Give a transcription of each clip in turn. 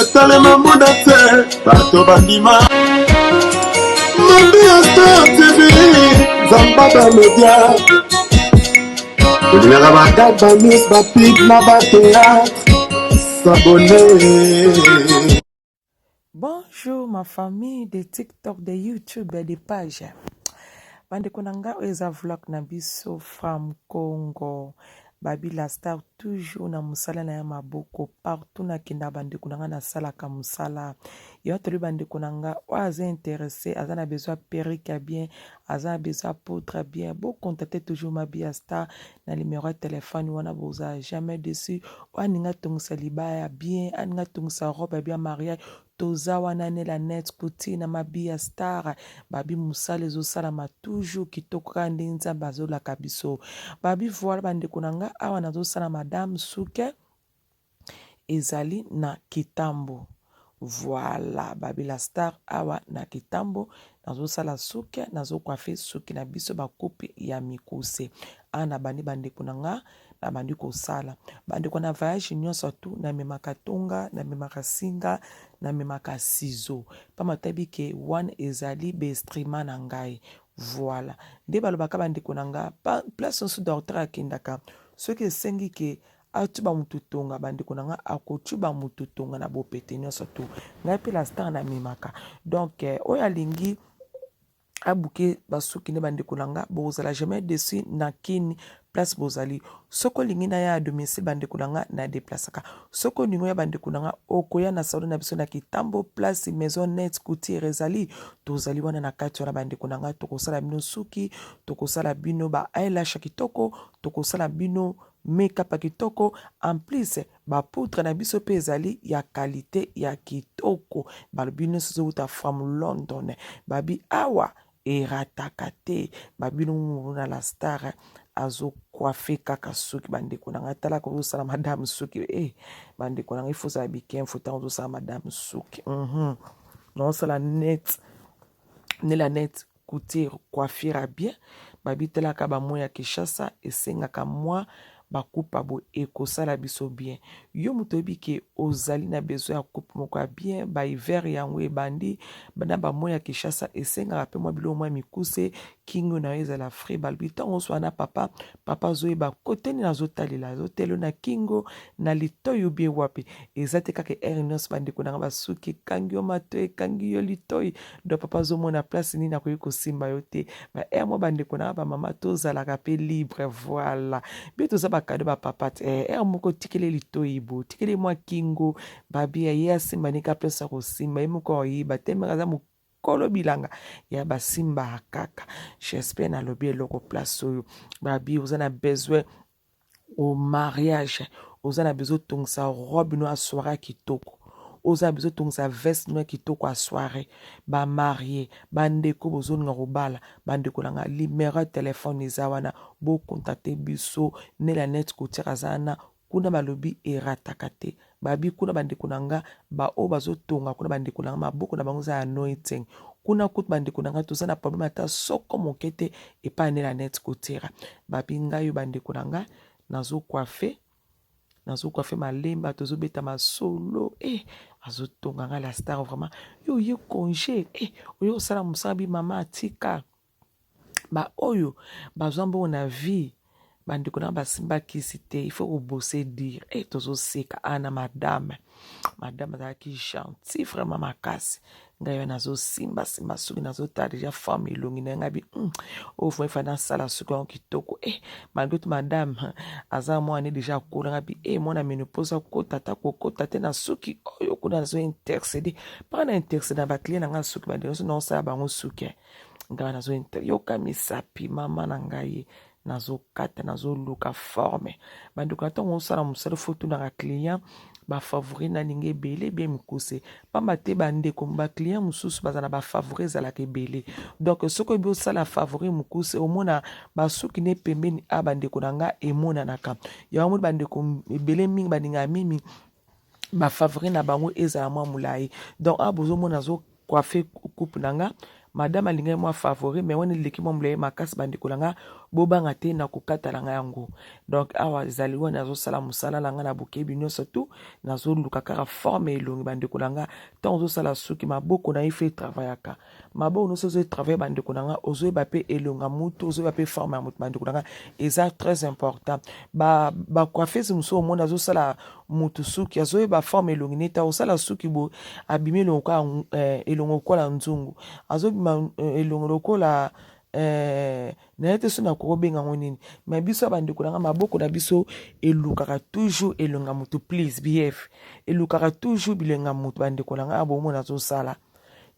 etalema mbunda te bato bandima maria star tv zambada media olingaka bakaka banews bapik na bateatre sabone Bonjour ma famille de TikTok, de YouTube et de page. Bande konanga eza vlog na biso from Congo. Baby lastar toujours na musala na ya maboko partout na kenda bandeko na nga na salaka musala ya toli bandeko na nga oyo aza interesse aza na besoin perique ya bien aza na besoin poudre ya bien bo contacte toujours ma bia star na numero ya telefone wana boza jamais dessus oyo aninga atongisa libaya ya bien aninga atongisa robe ya bien mariage Toza wana ne la net kuti na mabia star babi musala ezo salama toujours kitoko kaka ndenge nzambe azo laka biso babi voila ba ndeko na nga awa nazo sala madame suke ezali na kitambo voila babi la star awa na kitambo nazosala suki nazokwafe suki na biso bakupe ya mikuse a na bandi bandeko na nga na bandi kosala bandeko na voyage nyonso tu namemaka tonga namemaka singa namemaka sizo mpamba tayebi ke wana ezali bestrima na ngai voilà nde balobaka bandeko na nga place nyonso docteur akendaka soki esengi ke Atshuba mutu tonga bandeko na nga akotshuba mutu tonga na bopete nyonso tu ngai mpe la star na memaka donc eh, oyo alingi abuke basuki nde bandeko na nga bokozala jamais deçu na kini place bozali soki olingi na ya domicile bandeko na nga na deplasaka soki olingi ya bandeko na nga okoya na salon na biso na kitambo place maison net coutiere ezali tozali wana na kati wana bandeko na nga tokosala bino suki tokosala bino ba eyelash kitoko tokosala bino Make up ya kitoko en plus ba poudre na biso pe ezali ya qualite ya kitoko balobi nionso ezowuta from London babi awa erataka te babi nungu na la star azo coiffe kaka suki bandeko na ngai talaka ozosala madame suki e eh, bandeko na ngai ifo ozala bikenfo ntango ozosala madame suki mm -hmm. naosala net nela net Couture coiffure ya bien babi talaka ba mots ya Kinshasa esengaka mua ba coupe ya boye ekosala biso bien yo mutu oyebi ke ozali na besoin ya coupe moko ya bien ba hiver yango ebandi na ba mots ya Kinshasa esengaka pe mua biloko mua mikuse kingo na yo ezala frais balobi tango oswana papa Papa azoyeba kote nini azotalela azotelo na kingo na litoi ubie wapi eza te kaka ere nyonso bandeko na nga basuki ekangi yo matoi ekangi yo litoi do papa azomona place nini akoki kosimba yo te ba ere mwa bandeko na nga bamama tozalaka mpe libre voila bie toza bakado bapapa te eh, ere moko tikele litoi bo tikele mwa kingo babia ye asimba nika place ya kosimba ye moko ayeba te maka aza kolo bilanga ya basimba kaka j'espère na lobi eloko place oyo babi oza na besoin au mariage oza na besoin otongisa robe no ya soirée kitoko oza na besoin otongisa veste no ya kitoko ya soirée bamarie bandeko bozolinga kobala bandeko na nga limero ya telefone eza wana bokontakte biso nela net kotiaka aza na Kuna balobi erataka te babi kuna bandeko na nga ba oyo bazotonga kuna bandeko na nga maboko na bango eza ya noiteng kuna kutu bandeko na nga toza na probleme ata soko moke te epai nela net kotera babi ngai yo bandeko na nga nazokwafe nazokwafe malemba tozobeta masolo e eh, azotonga ngai la star vraiment yo oye conge e eh, oye kosala mosala bi mama atika ba oyo bazwa mbongo na vie ba ndeko na ba simba kisi te il faut ko bose dire et eh, tozo seka ana ah, madame madame azalaki gentil vraiment makasi ngai wana nazo simba simba soki nazo tala deja femme elongi na ngai bi hmm, oyo fo efa na sala soki yango kitoko eh malgré tout madame aza mwana deja akola ngai bi eh mwana menopause akota ta kokota te na soki oyo kuna nazo intercede mpaka na intercede na ba client na ngai soki ba ndeko na sala bango suki eh. ngawa nazo yoka misapi mama na ngai nazokata nazoluka forme bandeko na ntango osala mosala fo tunaka client bafavori nalingi ebele bie mikuse mpamba te bandeko baclient mosusu baza na bafavori ezalaka ebele donk soki oyebi osala favori mokuse omona basuki ne pembeni a ah, bandeko na ngai emonanaka yango moni bandeko ebele mingi balingaka mimi ba favoris na bango ezala mwa mulayi donc awa bozomona azo coiffe coupe na nga madame alingaki mwa favori mais wana eleki mwa mulayi makasi bandeko na nga bobanga te na kokata na nga yango donc awa ezali wana azosala mosala na nga na bokebi nyonso tu nazoluka kaka forme elongi bandeko na nga ntango ozosala suki maboko na ye fe travayaka maboko nyonso ozo travailler bandeko na nga ozoyeba mpe elongo ya motu ozoyeba mpe forme ya motu bandeko na nga eza très important bacoiffese ba mosusu omoni azosala motu suki azoyeba forme elongi neti akosala suki boye abimi elongo kaka eh, elongo lokola nzungu azobima eh, elongo lokola eh, naye te so nakoki obenga yango nini mai biso ya bandeko na ngai maboko na biso elukaka toujours elonga motu please behave elukaka toujours bilenga motu bandeko na ngai abomona azosala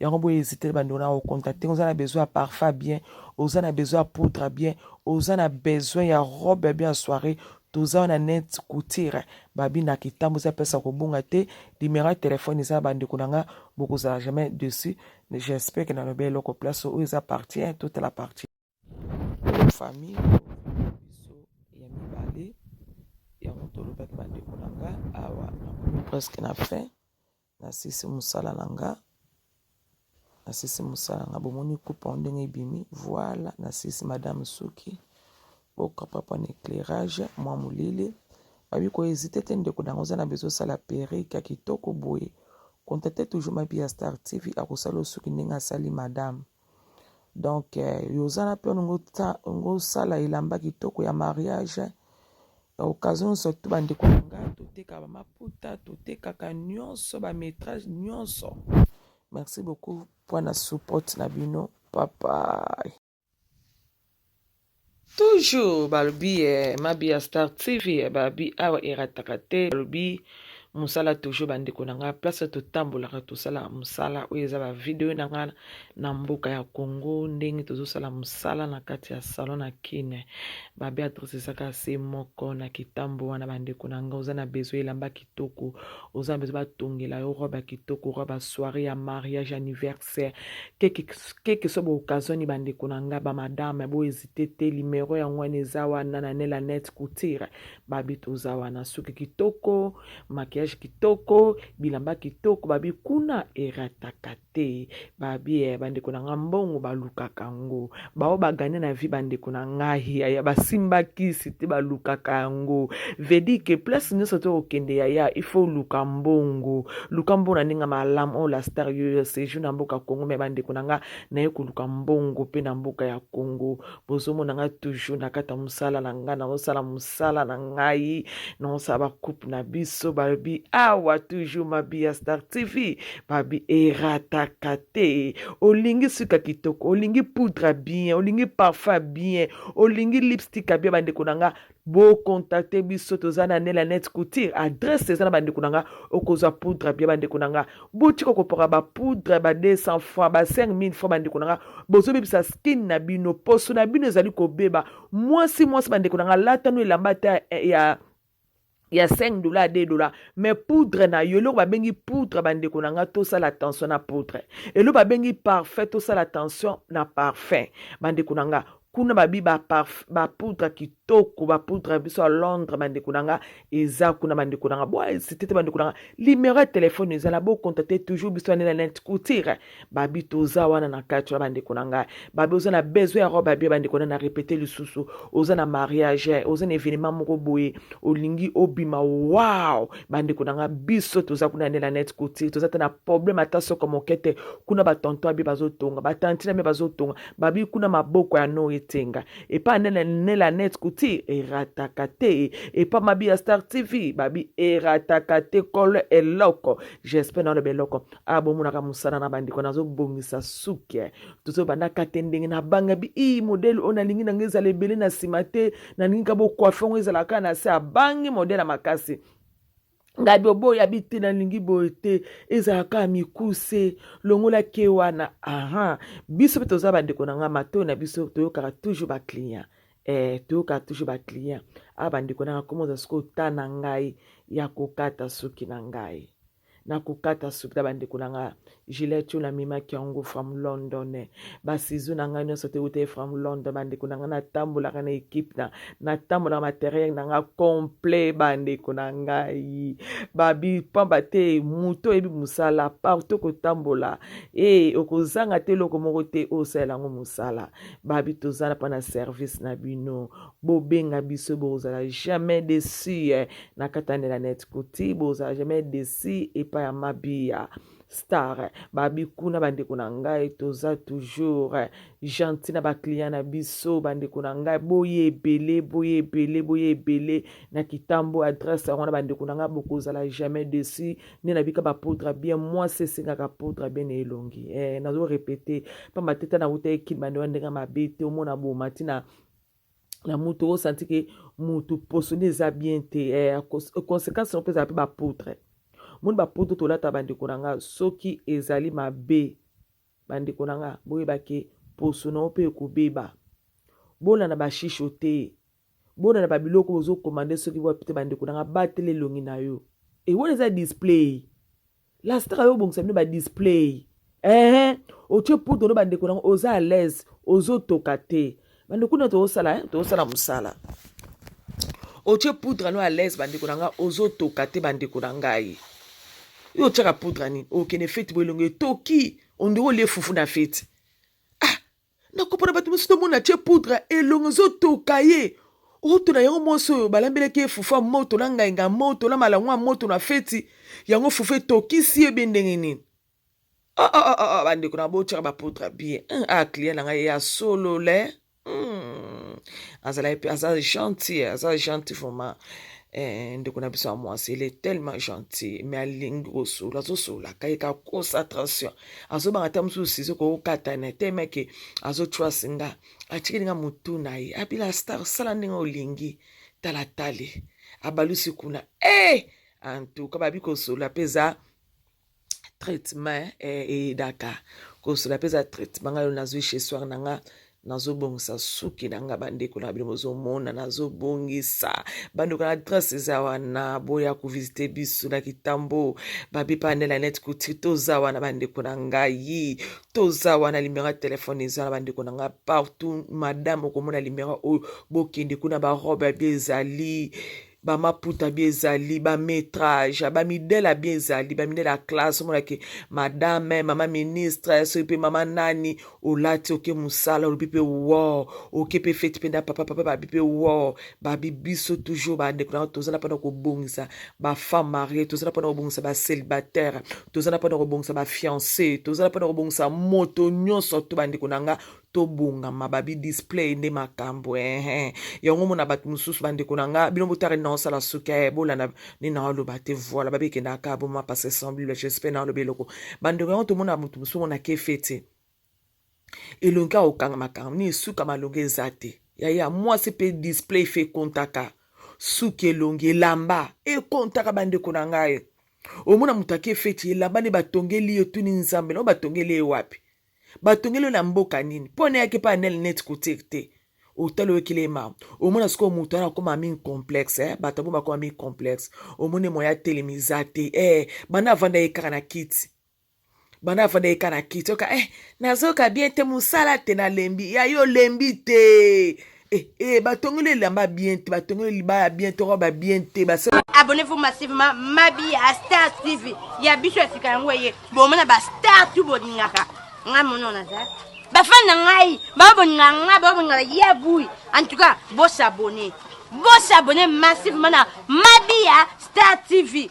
yango bo hésiter bande on a au contacter oza na besoin ya parfum bien oza na besoin ya poudre bien oza na besoin ya robe ya bien soirée toza na net couture babi na kitambo eza pesa kobonga te numéro ya telefone eza na bandeko na nga bokozala jamais dessus j'espère que nalobi eloko place oyo eza partie 1 toute la partie famille biso ya mibale yango tolobaki bandeko na nga awa nakomi presque na fin nasisi mosala na nga nasisi mosala nga bomoni kupa o ndenge ebimi voila nasisi madame suki bokapapa na éclairage mwa molili babi koezite te ndeko nango oza na bezo osala perike ya kitoko boye kontate toujours mabi ya star tv akosala osuki ndenge asali madame donc euh, yozana mpe ongo osala elamba kitoko ya mariage occasion nyonso to bandeko na nga toteka bamaputa totekaka nyonso bametrage nyonso merci beaucoup mpo na support na bino papai Toujours balobi eh, mabi ya Star TV eh, babi awa erataka te balobi musala toujours bandeko na nga place totambolaka tosala musala oyo eza ba video na nga na mboka ya Congo ndenge tozosala musala na kati ya salon na Kin ba Beatrice ezaka se moko na kitambo wana bandeko na nga oza na besoin elamba kitoko oza na besoin batongela yo robe kitoko robe soirée ya mariage anniversaire sœur quelque quelque soit occasion ba ndeko na nga ba madame bo hésiter te numéro ya ngwana eza wana na nela net couture babi toza wana suki kitoko maquillage kitoko bilamba kitoko babi kuna erataka te babi eh, ba ndeko na nga mbongo balukaka ngo baoyo bagane na vie bandeko na ngai yaya basimba kisi te balukaka yango vedi ke place nyonso te okende yaya il faut luka mbongo luka mbongo na ndenge malamu oyo oh, la star yo sejour na mboka congo me bandeko na ngai naye koluka mbongo mpe na mboka ya congo bozomona ngai toujours na kati ya mosala na ngai naosala mosala misala na ngai nonsa bakupe na biso balobi awa toujours mabi ya star tv babi erataka te olingi suka kitoko olingi poudre bien olingi parfum bien olingi lipstick bien bandeko na nga bokontakte biso toza na nela net couture adresse eza na bandeko na nga okozwa poudre bien bandeko na nga botika kopoka bapoudre ba 200 fois ba 5000 fois bandeko na nga bozobebisa skin na bino poso na bino ezali kobeba mwasi mwasi bandeko na nga lata no elamba ata eh, ya ya 5 dola 2 dola me poudre na yo eloko babengi poudre bandeko na nga tosala attention na poudre eloko babengi parfum tosala attention na parfum bandeko na nga kuna babi bapoudre kitoko bapoudre biso ya londres bandeko na nga eza kuna bandeko na nga bwasitete bandeko na nga limero ya telefone ezala bokontakte toujours biso ya nela net coutire babi toza wana na kati wana bandeko na ngai babi oza na besoin ya robe abie bandeko na na repete lisusu oza na mariage oza na evenema moko boye olingi obima wow bandeko na ngai biso toza kuna nde na net couture toza te na problème ata soko moke te kuna batonto abie bazotonga batanti na bie bazotonga babi kuna maboko ya no etenga epa nde na ne la net couture erataka te epa mabi ya star tv babi erataka te kolo eloko j'espère na oloba eloko ah bomonaka mosala na bandeko nazobongisa suke tozobanda kate ndenge nabangabi ii modele oyo nalingi nanga ezala ebele na nsima te nalingi ka bokwafe yango ezala kaka na se abangi modele ya makasi ngai boboya bi te nalingi boye te ezala kaka mikuse longola ke wana aha biso mpe toza bandeko na ngai matoi na biso toyokaka toujours baclient eh, toyokaka toujours baclient a ah, bandeko nanga komoza sikoyo ta na ngai ya kokata suki na ngai na kokata suki na bandeko na nga gilet oyo namemaki yango from london basizu na ngai nyonso tewutaki from london bandeko na ngai natambolaka na ekipe na natambolaka materiel na ngai complet bandeko na ngai babi pamba te moto oyebi mosala partout kotambola e okozanga te eloko moko te oyo osalela yango mosala babi tozala mpo na service na bino Bobenga biso bokozala jamais deçu eh, na katanela net kuti bokozala jamais deçu epa ya mabia star babi kuna bandeko na ngai toza toujours eh, gentil na ba client na biso bandeko na ngai boye ebele boye ebele boye ebele na kitambo adresse yango na bandeko na ngai bokozala jamais deçu nde nabika ba poudre bien mwasi esengaka poudre bien na elongi eh, nazo repete pamba te ta na wuta ekimba nde ndenge mabe te omona bomati na na mutu o santi ke mutu poso nde eza bien te eh, conséquence yango mpe ezala mpe bapotre moni bapotre tolata bandeko na nga soki ezali mabe bandeko na nga boyeba ke poso na yo mpe ekobeba bona na bashisho te bona na babiloko ozokomande soki wapi te bandeko na nga batela elongi na yo ewona eza display La star yo bongisa bino ba display. Eh, otie poudre no bandeko nango oza à l'aise, ozotoka te. Bandeko na tozosala, eh, tozosala mosala. Otie poudre no à l'aise bandeko na nga, ozotoka te bandeko na ngai. Yo otiaka poudre nini? Okende feti bo elongo etoki, ondeko olie fufu na feti. nakopona bato mosusu tomona atie poudre elongo ezotoka ye oto na yango mwasi oyo balambelaki ye fufu ya moto na ngainga ya moto na malango ya moto na feti yango fufu etokisi ye be ndenge nini oh, oh, oh, oh, oh bandeko na botyaka bapoudre bien hmm, a ah, client na ngai ya solo le hmm. azalaki mpe aza gentil aza gentil vraiment eh, ndeko na biso ya mwasi ele tellement gentil me alingi kosola azosolaka ye kakosa attention azobanga ata mosusu sizo kokatana te meke azotrust nga atikeli nga motu na ye abila star sala ndenge olingi talatale abalusi kuna e eh! antuka babi kosolola mpe eza traitement eh, eyedaka kosolola mpe eza traitement ngai nazwi chez soir na nga Nazo bongisa suki na nga bandeko na bino bozo mona nazo bongisa bandeko na adresse eza wana boya ko visiter biso na kitambo babi panel ya net couture toza wana bandeko na ngai toza wana limero ya telefone eza na bandeko na ngai partout madame okomona limero oyo bokende kuna barobe ya bia ezali ba maputa bie ezali ba metrage ba midela bie ezali ba midela ya classe omona ke madame mama ministre soki mpe mama nani olati oke mosala olobi mpe wo oke mpe feti mpe na papa papa babi mpe wo babi biso toujours bandeko na tozala mpona kobongisa bafemme marie tozala mpona kobongisa bacelibataire tozala mpona kobongisa bafiance tozala mpona kobongisa moto nyonso to bandeko na nga tobongama babi display nde makambo ehe yango mona bato mosusu bandeko na nga bino botala nina osala suki e eh, bolanda nina oloba te voila babi ekenda kaka boma passe semblable j'espère na oloba eloko bandeko yango tomona moto mosusu mona ke fete elongi akokanga makambo nini suka malongi eza te yaya mwasi mpe display fe kontaka suki elongi elamba ekontaka bandeko na ngai omona moto ake feti elamba nde batongeli ye otuni nzambe na oyo batongeli ye wapi batongeli yo na mboka nini mpo nayaki epai ya nel neti kotire te otali oyokeli ye mawa omona sikoyo moto wana akoma mi complexe eh? bato yango bakoma mi complexe omoni moya telemi eza te eh, banda avanda ye kaka na kiti banda afanda eka na kiti oka eh nazoka bien te mosala te nalembi ya yo olembi te Eh, eh, batongeli elamba bien te batongeli libaya bien te roba bien te abonnez-vous massivement mabi ya star tv ya biso ya sika yango eye bomona bastar tu bolingaka ngai moni ona za bafani na ngai babolinga ngai babolinga ya bui en tout cas bosabone bosabone massivement na mabi ya star tv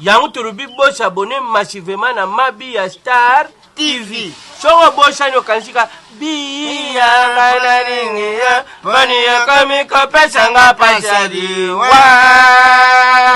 Yango tolobi bo s'abonner massivement na Mabi ya Star TV. Soki obosani okanisi ka biya nga nalingi yo, boni okomi kopesa nga pasi ya liwa.